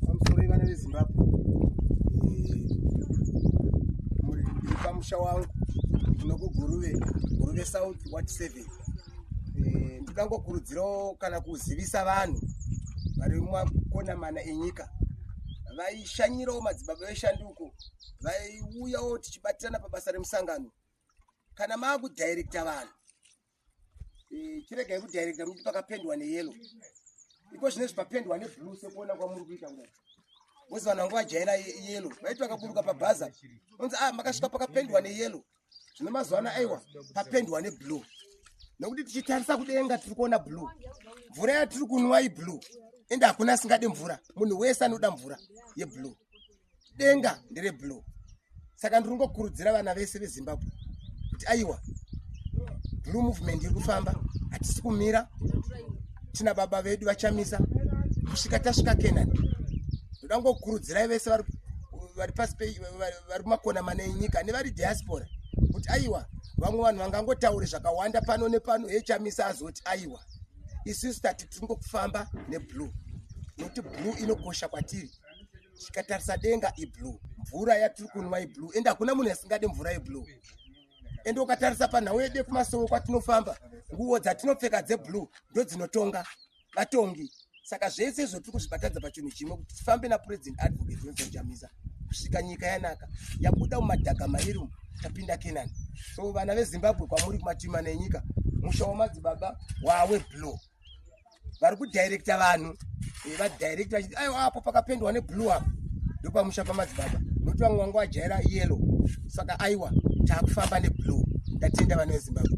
pamusoro ivana vezimbabwe pamusha wangu tinokuguruve guruve south wat seven eh, ndikangokurudzirawo kana kuzivisa vanhu vari mumakona mana enyika vaishanyirawo madzibaba veshanduko vaiuyawo tichibatirana pabasa remusangano kana maakudhairekta vanhu Eh, chiregai kudirecta muti pakapendwa neyelo iko zvine zvipapendwa neblue sekuona kwamuri kuita kudai wezi vanhu vanga vajaira yelo vaiti vakaburuka pabhaza onzi a ah, makasvika pakapendwa neyelo zvino mazuva ano aiwa papendwa neblue nekuti tichitarisa kudenga tiri kuona blue mvura yatiri kunwa iblue ende hakuna asingade mvura munhu wese anoda mvura yeblue denga ndere blue saka ndiri kungokurudzira vana vese vezimbabwe kuti aiwa blue movement iri kufamba hatisi kumira tina baba vedu vachamisa kusvika tasvika kenani ndoda ngokurudzirai vese vari pasi vari kumakona mana enyika nevari diaspora kuti aiwa vamwe vanhu vangangotaure zvakawanda pano nepano echamisa azoti aiwa isusu tati tiri ngokufamba neblue nokuti blue inokosha kwatiri tikatarisa denga iblue mvura yatiri kunwa iblue ende hakuna munhu asingade mvura yeblue ende ukatarisa panhau yede kumasowo kwatinofamba nguvo dzatinopfeka dzeblue ndo dzinotonga vatongi saka zvese izvo tiri kuzvibatadza pachinhu chimwe kuti tifambe napresident advocate johnson chamisa kusvika nyika yanaka yabuda mumadhaga mairi umu tapinda kenani so vana vezimbabwe kwamuri kumatima nenyika musha wamadzibaba wawe blow vari kudirecta vanhu eh, vadirecta vachiti aiwa apo pakapendwa neblue apo ndopamusha pamadzibaba nokuti vamwe vanga vajaira yellow saka aiwa taakufamba neblue ndatenda vana vezimbabwe